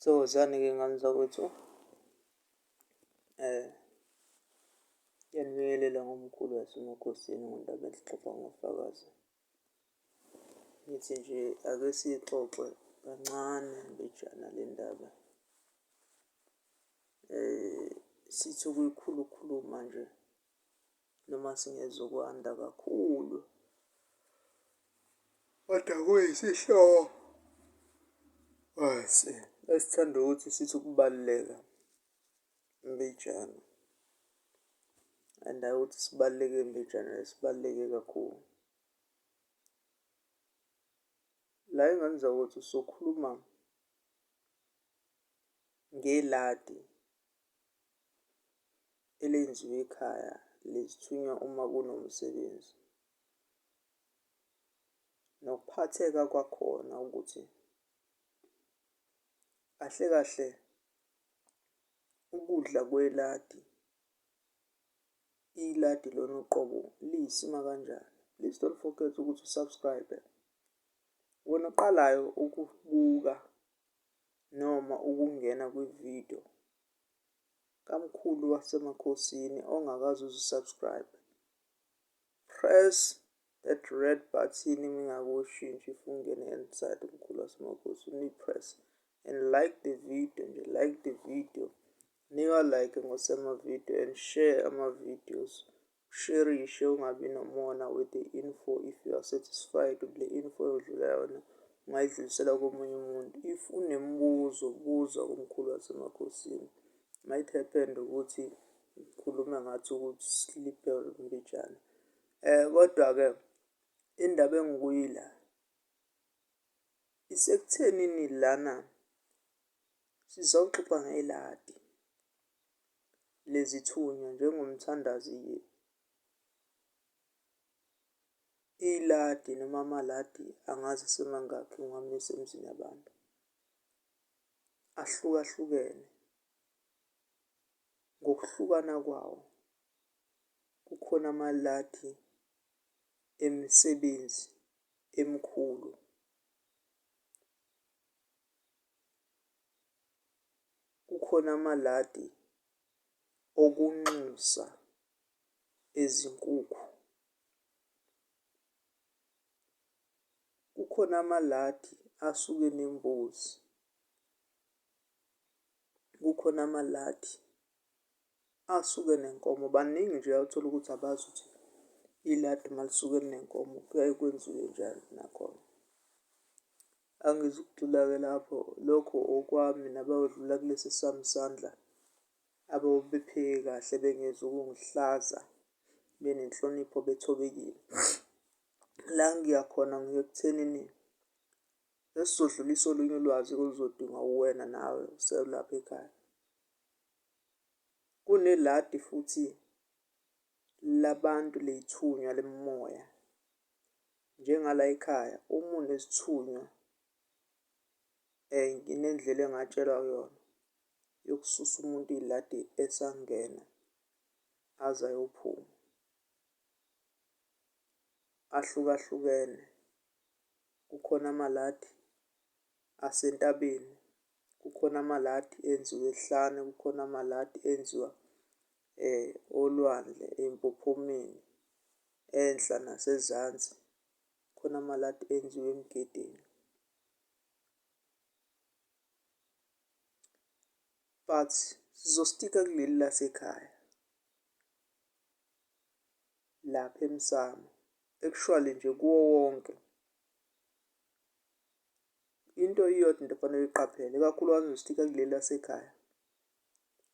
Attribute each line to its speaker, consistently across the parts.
Speaker 1: Thokozani-ke ngani zakwethu. Ngiyanibingelela ngomkhulu waseMakhosini ngendaba exoxwa ngofakazi. Ngithi nje ake siyixoxe kancane mbijana le ndaba. Sithi ukuyikhulu ukhuluma nje. Noma singezokwanda kakhulu, kodwa kuyisihloko phansi esithanda ukuthi sithi ukubaluleka, imbijana. And hhayi ukuthi sibaluleke imbijana, sibaluleke kakhulu. La engenza ukuthi sokhuluma ngeladi. elenziwa ekhaya lezithunywa uma kunomsebenzi. Nokuphatheka kwakhona ukuthi kahle kahle ukudla kweladi, iladi lona uqobo liyisima kanjani. Please don't forget ukuthi u-subscribe-e. Wena oqalayo ukubuka. noma ukungena kwi-video kamkhulu wasemakhosini ongakaze uzi-subscribe. Press that red button mingakushintshi fungene inside umkhulu wasemakhosini uyi-press and like the video nje like the video nika like ngosema-video and share ama-videos Usherishe ungabi nomona with the info if you are satisfied with le info yodlula yona ungayidlulisela komunye umuntu if unemibuzo buza kumkhulu wasemakhosini might happen ukuthi ngikhulume ngathi ukuthi slipper mbijana eh kodwa-ke indaba engikuyila isekuthenini lana sizawuxoxa ngeladi lezithunywa njengomthandazi iladi noma amaladi angazi asemangakhi ngiwamisa emzini yabantu. Ahlukahlukene ngokuhlukana kwawo kukhona amaladi emisebenzi emikhulu. Kukhona amaladi okunxusa ezinkukhu. Kukhona amaladi asuke enembuzi. Kukhona amaladi asuke enenkomo baningi nje othola ukuthi abazi ukuthi iladi uma lisuke linenkomo kuyaye kwenziwe njani nakhona. Angizukugxila-ke lapho lokho okwami nabayodlula kulesi sami isandla ababepheke kahle bengezi ukungihlaza benenhlonipho bethobekile. La ngiya khona ngiya ekuthenini esizodlulisa olunye ulwazi oluzodingwa uwena nawe uselapha ekhaya. Kuneladi futhi labantu ley'thunywa lemimoya. Njengalay'khaya uma unesithunywa nginendlela engatshelwa kuyona yokususa umuntu iy'ladi esangena aze ayophuma. Ahlukahlukene kukhona amaladi. asentabeni, kukhona amaladi enziwa ehlane, kukhona amaladi enziwa olwandle empophomeni enhla nasezansi. Khona amaladi enziwa emgedeni. But sizostikha kuleli lasekhaya lapha emsamo, actually nje kuwo wonke. into iyodwa into ofanele uyiqaphele, ikakhulukazi nje stika kuleli lasekhaya.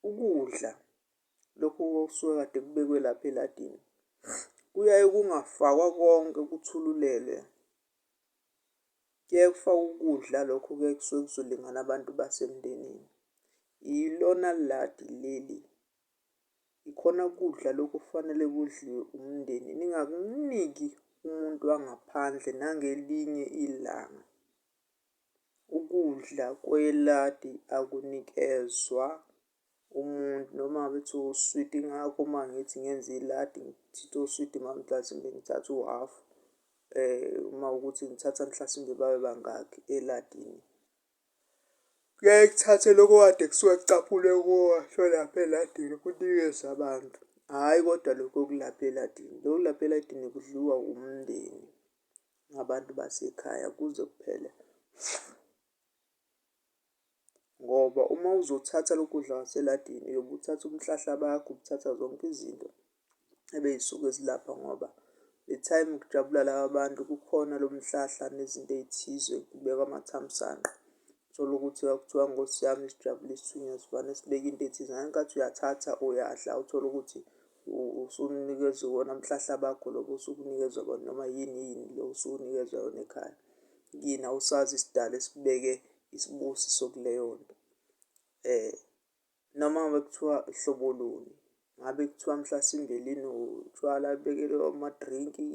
Speaker 1: Ukudla lokhu okusuke kade kubekwe lapha eladini kuyaye kungafakwa konke kuthululelwe. Kuyaye kufakwe ukudla lokho kuyaye kusuke kuzolingana abantu basemndenini. Ilona ladi leli. yikhona kudla lokhu okufanele kudliwe umndeni. Ningakuniki umuntu wangaphandle nangelinye ilanga. Ukudla kweladi akunikezwa umuntu noma ngabe kuthiwa uswidi ingakho uma ngithi ngenza iladi ngithatha oswidi uma mhlasimbe ngithatha uhafu uma ukuthi ngithatha mhlasimbe babe bangaki eladini. Kuyaye kuthathe lokho kade kusuke kucaphunwe kuwa lapha eladini kunikezwe abantu, hhayi kodwa lokho okulapha eladini. Lokho okulapha eladini kudliwa wumndeni nabantu basekhaya kuze kuphele ngoba uma uzothatha lokhu kudla kwaseladini uyobe uthatha umhlahla bakho, uthatha zonke izinto. ebeyisuke zilapha ngoba le time kujabula laba bantu kukhona lo mhlahla nezinto ey'thize kubekwa amathamsanqa. Uthole ukuthi kwakuthiwa nkosi yami sijabule isithunywa sivane sibeke into ethize ngale nkathi uyathatha uyadla uthole ukuthi usunikezwe iwona mhlahla bakho lobo osuke unikezwa bona noma yini yini lo osuke unikezwa yona ekhaya. Kini awusazi isidali esibeke isibusiso kuleyo nto . noma ngabe kuthiwa hlobo luni ngabe kuthiwa mhlasimbe linotshwala bekelwe amadrinki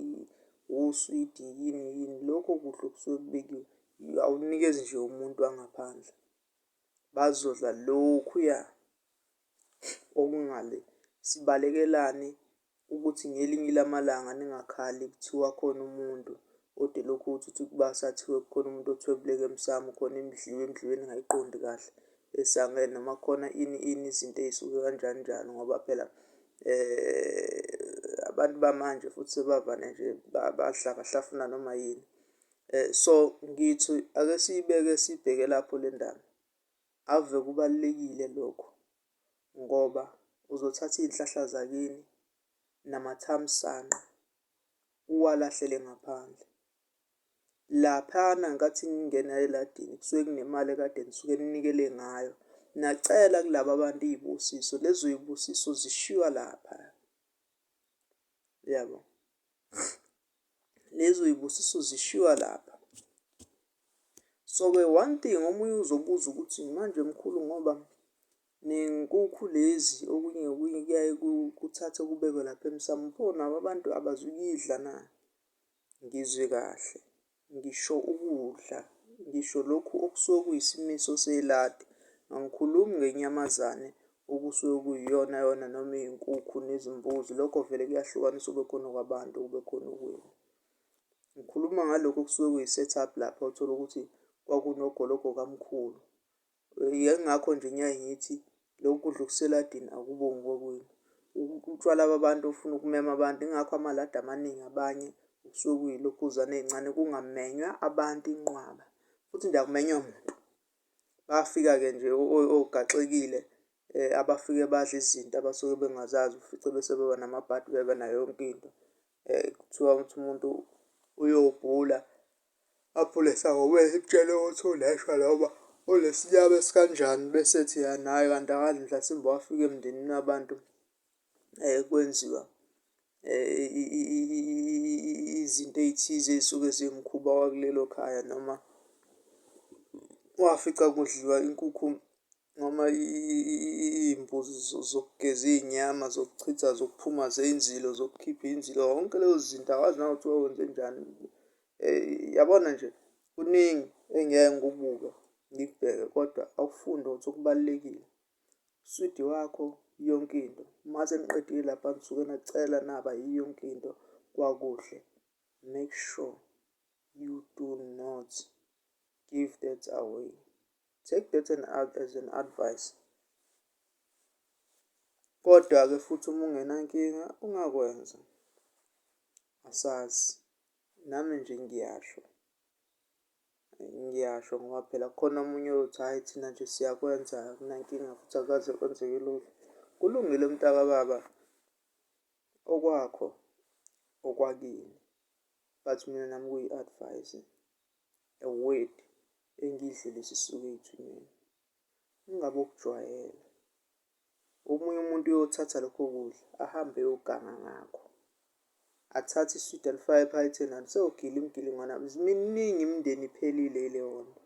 Speaker 1: uswidi yini yini lokho kudla okusuke kubekiwe awunikezi nje umuntu wangaphandle bazodla lokhuya okungale sibalekelane ukuthi ngelinye lamalanga ningakhali kuthiwa khona umuntu kodwa elokhu uthi uthi ukubasa athiwe kukhona umuntu othwebuleke emsamo khona imidliwe emdliwe ningayiqondi kahle esangene noma khona ini ini izinto ey'suke kanjani njani ngoba phela eh abantu bamanje futhi sebavane nje bahlafuna noma yini eh so ngithi ake siyibeke sibheke lapho le ndaba ave kubalulekile lokho. ngoba uzothatha iy'nhlahla zakini namathamsanqa uwalahlele ngaphandle. Laphana ngenkathi ningena eladini kusuke kunemali ekade nisuke ninikele ngayo, nacela kulaba abantu iy'busiso. Lezo y'busiso zishiywa lapha, uyabo? lezo y'busiso zishiywa lapha. So-ke one thing omunye uzobuza ukuthi manje mkhulu ngoba ney'nkukhu lezi okunye okunye kuyaye kuthathwe kubekwe lapha emsamu pho nabo abantu abazukuyidla na? Ngizwe kahle. ngisho ukudla, ngisho lokhu okusuke kuyisimiso seladi. Angikhulumi ngenyamazane okusuke kuyiyona yona noma iyinkukhu nezimbuzi, lokho vele kuyahlukanisa ukube khona okwabantu ukube khona okwenu. Ngikhuluma ngalokho okusuke kuyi-set up lapha uthole ukuthi kwakunogologo kamkhulu. Yingakho nje ngiyaye ngithi loku kudla okuseladini akubongi kokwenu. Utshwala babantu ofuna ukumema abantu, yingakho amaladi amaningi abanye kusuke kuyilokhuzana ey'ncane kungamenywa abantu inqwaba futhi nje akumenywa muntu. Bafika-ke nje ogaxekile abafike badle izinto abasuke bengazazi ufice bese beba namabhadi beba nayo yonke into. Eh, kuthiwa ukuthi umuntu uyobhula aphule esangomeni simtshele ukuthi uneshwa noma unesinyama esikanjani bese ethi naye kanti akadli mhlasimbe wafika emndenini wabantu um kwenziwa um izinto ey'thize ey'suke ziwumkhuba wakulelo khaya noma wafica kudliwa inkukhu noma iy'mbuzi zokugeza iy'nyama zokuchitha zokuphuma zey'nzilo zokukhipha inzilo yonke leyo zinto awazi nakuthiwa wenzenjani. Yabona nje kuningi engiyeke ngikubuke ngikubheke kodwa awufunde ukuthi okubalulekile uswidi wakho yonke into. Mase niqedile lapha nisuke nacela naba yiyo yonke into kwakuhle. Make sure you do not give that away. Take that and out as an advice. Kodwa-ke futhi uma ungenankinga ungakwenza. Asazi. Nami nje ngiyasho. Ngiyasho ngoba phela khona omunye othi hhayi thina nje siyakwenza kunankinga futhi akaze kwenzeke lutho. Kulungile mntakababa okwakho okwakini but mina nami kuyi-advise a word engidlule sisuke ethuneni ingabe ukujwayela omunye umuntu uyothatha lokho kudla ahambe eyoganga ngakho athathe iswidi alifake ephaketheni sewugila imgilingwana miningi imindeni iphelile ileyo nto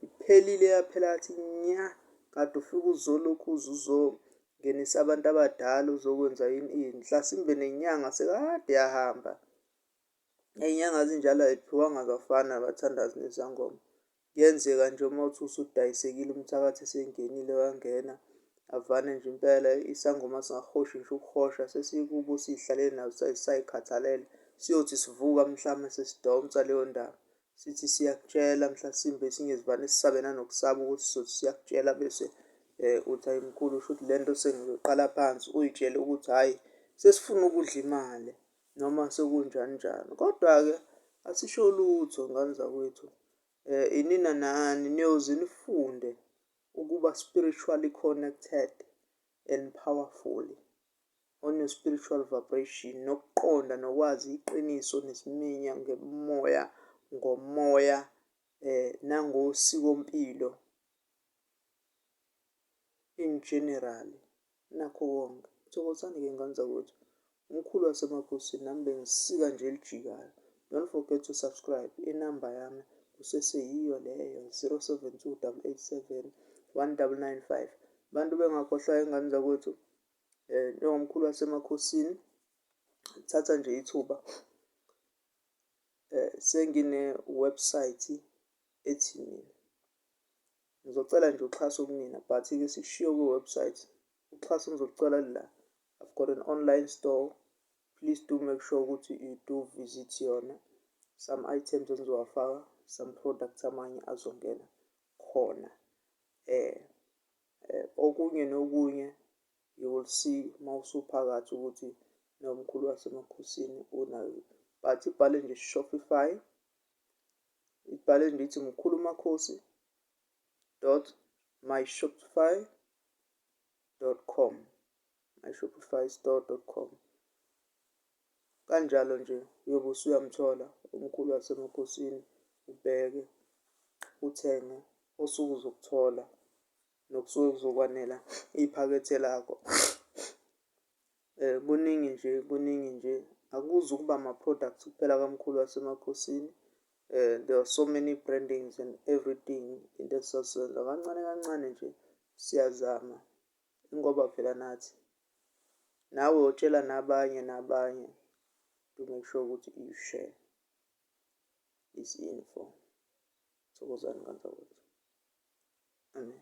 Speaker 1: iphelile yaphela athi nya kade ufike uzolokhu uze uzongenisa abantu abadala uzokwenza yini inhlasimbe nenyanga sekade yahamba Ney'nyanga zinjalo ayiphiwanga abafana abathandazi nezangoma. Kuyenzeka nje uma uthi usudayisekile umthakathi esengenile wangena avane nje impela isangoma singahoshi ngisho ukuhosha sesikubo siy'hlale nazo say'khathalele siyothi sivuka mhlawumbe sesidonsa leyo ndaba sithi siyakutshela mhlasimbe esinye zivane sisabe nanokusaba ukuthi sizothi siyakutshela bese um uthi ayi mkhulu shuthi le nto sengizoqala phansi uyitshele ukuthi hhayi sesifuna ukudla imali noma sekunjani njani. Kodwa-ke asisho lutho ngane zakwethu. Eh inina nani niyoze nifunde ukuba spiritually connected and powerful on your spiritual vibration nokuqonda nokwazi iqiniso nesiminya ngemoya ngomoya eh nangosikompilo in general nakho konke. Thokozani ke ngane zakwethu. Umkhulu wasemakhosini nami bengisika nje elijikayo. Don't forget to subscribe. Inamba yami kuseseyiyo leyo 072887 1995. Bantu bengakhohlwa ingane zakwethu eh njengomkhulu wasemakhosini thatha nje ithuba eh sengine website ethi mina Ngizocela nje uxhaso kunina but ke sikushiyo kwi website. Uxhaso ngizolucela lula. I've got an online store. Please do make sure ukuthi you do visit yona. Some items engizowafaka, some products amanye azongena khona. Eh, eh okunye nokunye you will see mawusuphakathi ukuthi nomkhulu wasemakhosini unayo. But ibhale nje Shopify Ibhale ndithi mkhulu makhosi dot myshopify dot com myshopify store dot com kanjalo nje uyobe usuyamthola umkhulu wasemakhosini ubheke uthenge osuke uzokuthola nokusuke kuzokwanela iphakethe lakho. Kuningi nje kuningi nje akuzukuba ama products kuphela kamkhulu wasemakhosini there are so many brandings and everything into esizozenza kancane kancane nje siyazama ingoba phela nathi nawe utshela nabanye nabanye to make sure ukuthi you share this info thokozani kanzakwethu amen